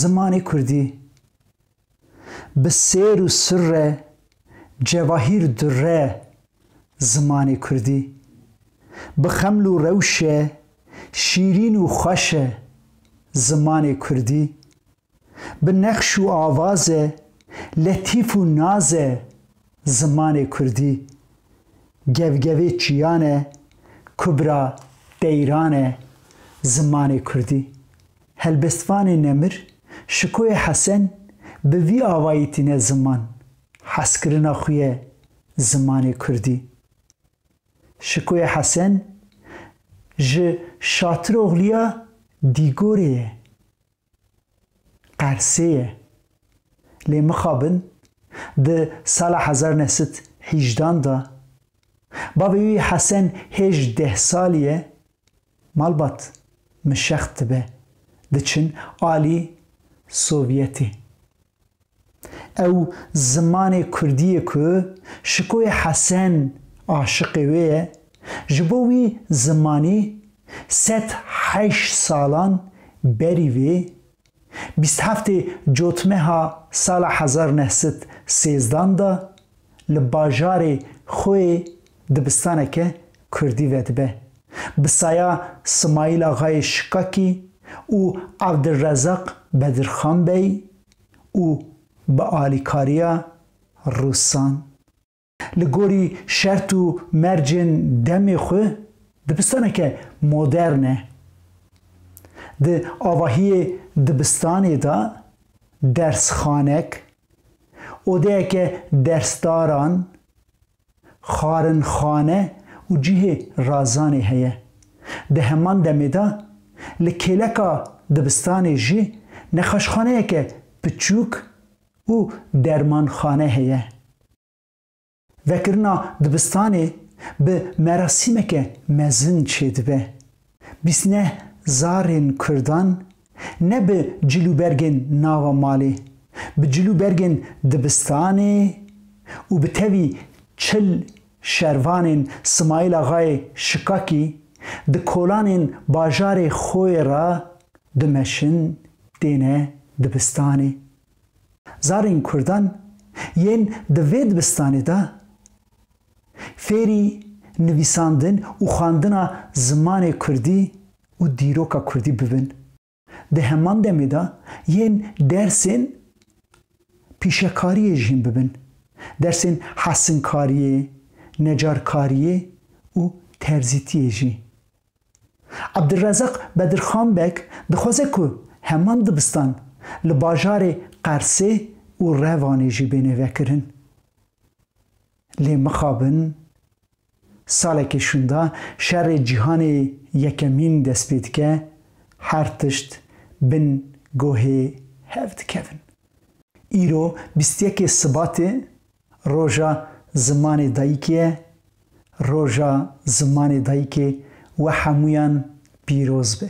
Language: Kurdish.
Zimanê kurdî bi sêr û sirre cevahîr durre Zimanê kurdî bi xeml û rewşe şîrîn û xweş e Zimanê kurdî bi nexş û avaze letîf û naz e Zimanê kurdî gevgevê çiyan e kubra deyran e Zimanê kurdî. Helbestvanê Nemir, Şikoyê Hesen bi vî avayî tîne ziman, hezkirina xwe ye zimanê kurdî. Şikoyê Hesen ji Şatiroxliya Dîgorê ye. Qersê ye. Lê mixabin di sala hezar ne sed hîjdan de, bavê wî Hesen hêj deh salî ye, Malbat min şext dibe diçin alî Sovyetê. Ew zimanê kurdiyê ku Şikoyê Hesen aşiqê wê ye, ji bo wî zimanî sed heşt salan berî vê Bîst heftê cotmeha sala hezar neh sed sêzdan de li bajarê Xoyê dibistaneke kurdî vedibe. Bi saya Simayîl Axayê Şikakî û Evdilrezaq Bedirxanbey û bi alîkariya Rûsan. Li gorî şert û mercên demê xwe dibistaneke modern e. Di avahiyê dibistanê de dersxanek, odeyeke dersdaran, xarinxane û cihê razanê heye. Di heman demê de li kêleka dibistanê jî nexaşxaneyeke piçûk û dermanxane heye. Vekirina dibistanê bi merasîmeke mezin çêdibe. Bîst neh zarên kurdan ne bi cil û bergên nava malê, bi cil û bergên dibistanê û bi tevî çil Şervanên Simayîl Axayê Şikakî di kolanên bajarê Xoyê re dimeşin têne dibistanê. Zarên Kurdan yên di vê dibistanê de fêrî nivîsandin û xwendina zimanê Kurdî û dîroka Kurdî bibin. Di heman demê de yên dersên pîşekariyê jî hîn bibin. Dersên hesinkariyê, necarkariyê û terzîtiyê jî. Ebdulrezaq Bedirxan Beg dixwaze ku heman dibistan li bajarê Qersê û Revanê jî bêne vekirin. Lê mixabin, saleke şûnda Şerê Cîhanê Yekemîn dest pê dike, her tişt bin gohê hev dikevin. Îro bîst yekê Sibatê Roja Zimanê Dayikê ye, Roja Zimanê Dayikê we hemûyan pîroz be.